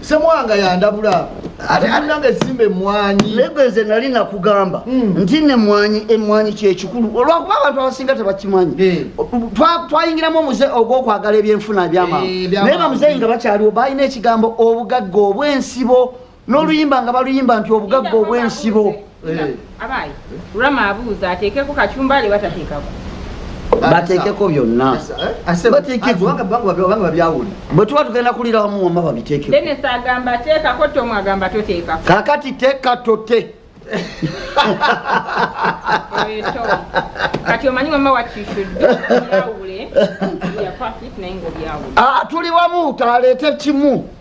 semwanga yandabula ateananga esimba emwanyi lego nze nali nakugamba hmm. nti nemwanyi emwanyi kyekikulu olwakuba abantu abasinga tebakimanyi eh. twayingiramu omuze ogwokwagala ebyenfuna ebyamaa eh, naye bamuzeyi nga bakyaliwo balina ekigambo obugagga obwensibo n'oluyimba nga baluyimba nti obugagga obw'ensibo eh. abayi rama abuuza ateekeko kacumbali batateekako bateekeko byonna bwe tuba tugenda kulira wamu wama babiteekekakati teeka tote kati omanyi mama watishudde ah, tuli wamu taleete kimu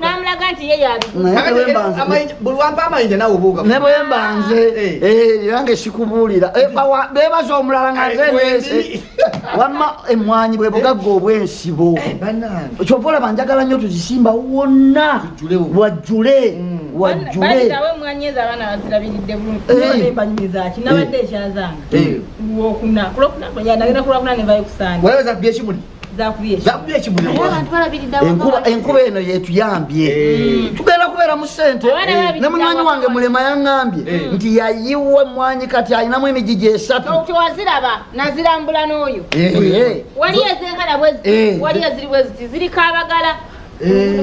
namulaga nti ye yabulwampa amayinja nawe obuuga ne bwe mbanze nange sikubuulira bebaza omulala nga nzenesi wamma emwanyi bwe bugagga obwensibo kyova olaba njagala nnyo tuzisimba wonna wajjule wajjule zakubye ekibuenkuba eno yetuyambye eh. tugenda kubeera mu sente eh. ne munywanyi wange mulema yaŋambye eh. nti yayiwa mwanyi kati alinamu emijiji esatu waziraba nazirambula n'oyo wali ezenkana wali eziri bweziti ziriko abagala Eh.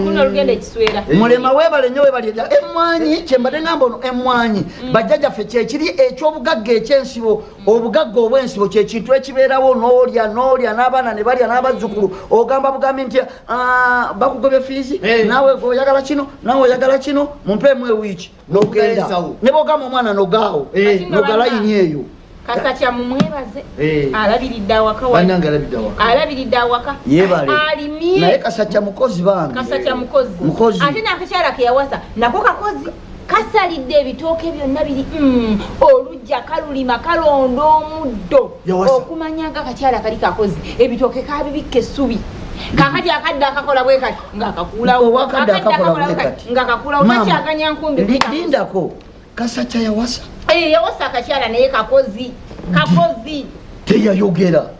mulema webale nyo webale emwanyi kyembade ngamba ono emwanyi mm. bajjajaffe kyekiri ekyobugagga ekyensibo obugagga obwensibo kyekintu ekibeerawo nolya nolya n'abaana ne balya n'abazzukulu ogamba bugambi nti ah, bakugobye fiizi eh. nawe oyagala kino nawe oyagala kino mumpeemu ewiiki nogenda ne bogamba omwana nogaawo eh. nogalayini eyo kasakya mumwebaze eh. alabiridde awaka alabiridde awaka alimye naye kasakya mukozi bange kasakya mukozi ate nakakyala keyawasa nako kakozi kasalidde ebitooke byonna biri mm, olujja kalulima kalonda omuddo okumanya nga kakyala kali kakozi ebitooke kabibikka essubi kakati akadde akakola bwe kati ngakakuulawongaakakuulawolindako kasakya yawasa eh, yawasa akakyala naye kakozi kakozi teyayogera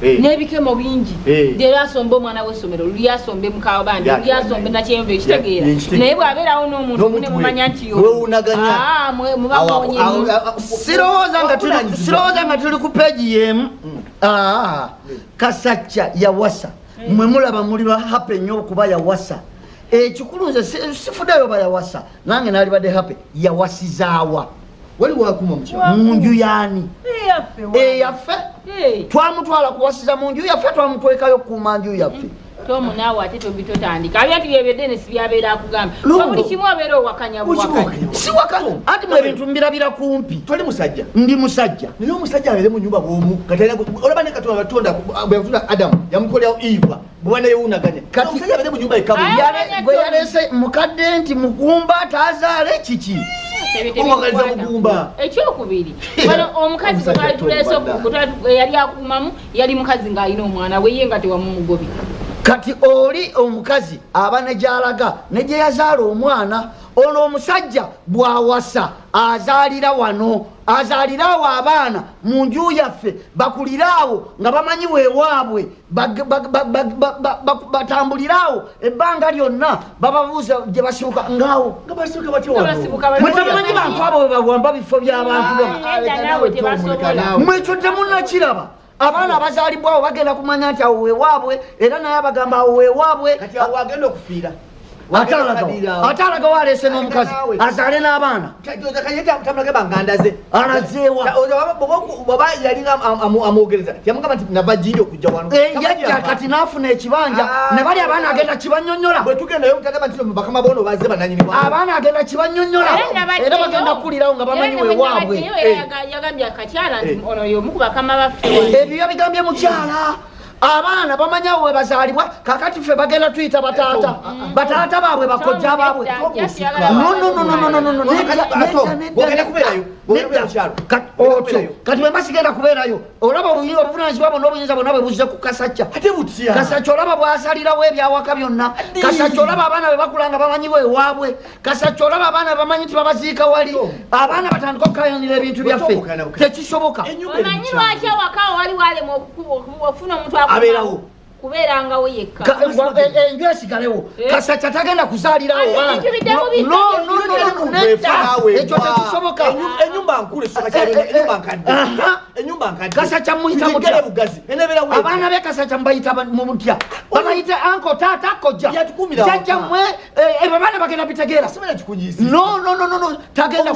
Hey. Eh. nebikemo bingi hey. Eh. leero asomba omwana wesomero luli asombe mukawa bandi luli asombe nakyeyombe ekitegeera naye bwabeerawo nomuntu nemumanya nti ah, sirowooza nga tuli ku peegi yemu mm. ah, kasacca yawasa eh. mwe mulaba muli bahape nyo okuba yawasa ekikulu nze sifudayo bayawasa nange nalibadde hape yawasizaawa waliwo akuma mu nju yaani eyaffe twamutwala kuwasiza mu nju yaffe twamutwekayo okukuuma nju yaffe tomu naawe ate tobi totandika abintu byebyo denisi byabeera akugamba buli kimu abeera owakanya siwakanya anti mu ebintu mbirabira kumpi toli musajja ndi musajja naye omusajja abeere mu nyumba bwomu olaba ne katonda batonda bweyatunda adamu yamukolerawo eva mwana yewunaganya kati omusajja abadde mu nyumba ekabu gwe yalese mukadde nti mugumba tazaale kiki omwagaliza mugumba ekyokubiri wano omukazi gwetwalituleese yali akumamu yali mukazi ng'alina omwana weye nga tewamumugobi kati oli omukazi aba ne gyalaga ne gye yazaala omwana ono omusajja bwawasa azaalira wano azaaliraawo abaana mu nju yaffe bakuliraawo nga bamanyi wewaabwe batambulire awo ebbanga lyonna bababuuza gye basibuka ngaawo nga basibuka batyamumanyi bantu abo bebawamba bifo byabantu mwekyo temunakiraba abaana abazaalibwawo bagenda kumanya nti awo wewaabwe era naye abagamba awo wewaabwe atalaga walese nomukazi azale nabaana alazeewayajja kati nafuna ekibanja ah. nebali abaana agenda kibanyonyola abaana agenda kibanyonyola era bagenda kukulirawo nga bamanyi wewabwe eh. eh. ebyo yabigambye mukyala abaana bamanya we bazalibwa kakati ffe bagenda tuyita bataata oh, ah, ah. bataata baabwe bakojja baabwe kati bwemba sigenda kubeerayo olaba obuvunanyizibwa bwona obuyinza bwona bwe buzze ku kasacca kasacca olaba bwasalirawo ebyawaka byonna kasacca olaba abaana bwe bakulanga bamanyiwo ewaabwe kasaki olaba abaana bamanyi nti babaziika wali abaana batandika okukayanira ebintu byaffe tekisoboka omanyi lwaki awaka wali walema okufuna omuntu abeerawo kubeerangawo yekka eh, eh, enju esigalewo eh? kasaki atagenda kuzaalirawo ekyo tekisoboka enyumba nkulu enyumba nkadde enyumba nkadde kasaki amuyita mutya abaana be kasaki amubayita mutya babayita anko taata kojja jajja mwe Eh, ebyo baana bagenda bitegeera tagenda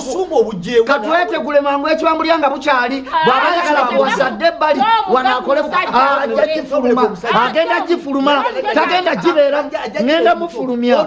katwetegule mangu ekibambulya nga bukyali ah, bwaba ayagala bwasadde ebbali wanakolefuluma ah, agenda gifuluma tagenda gibeera ngenda mufulumya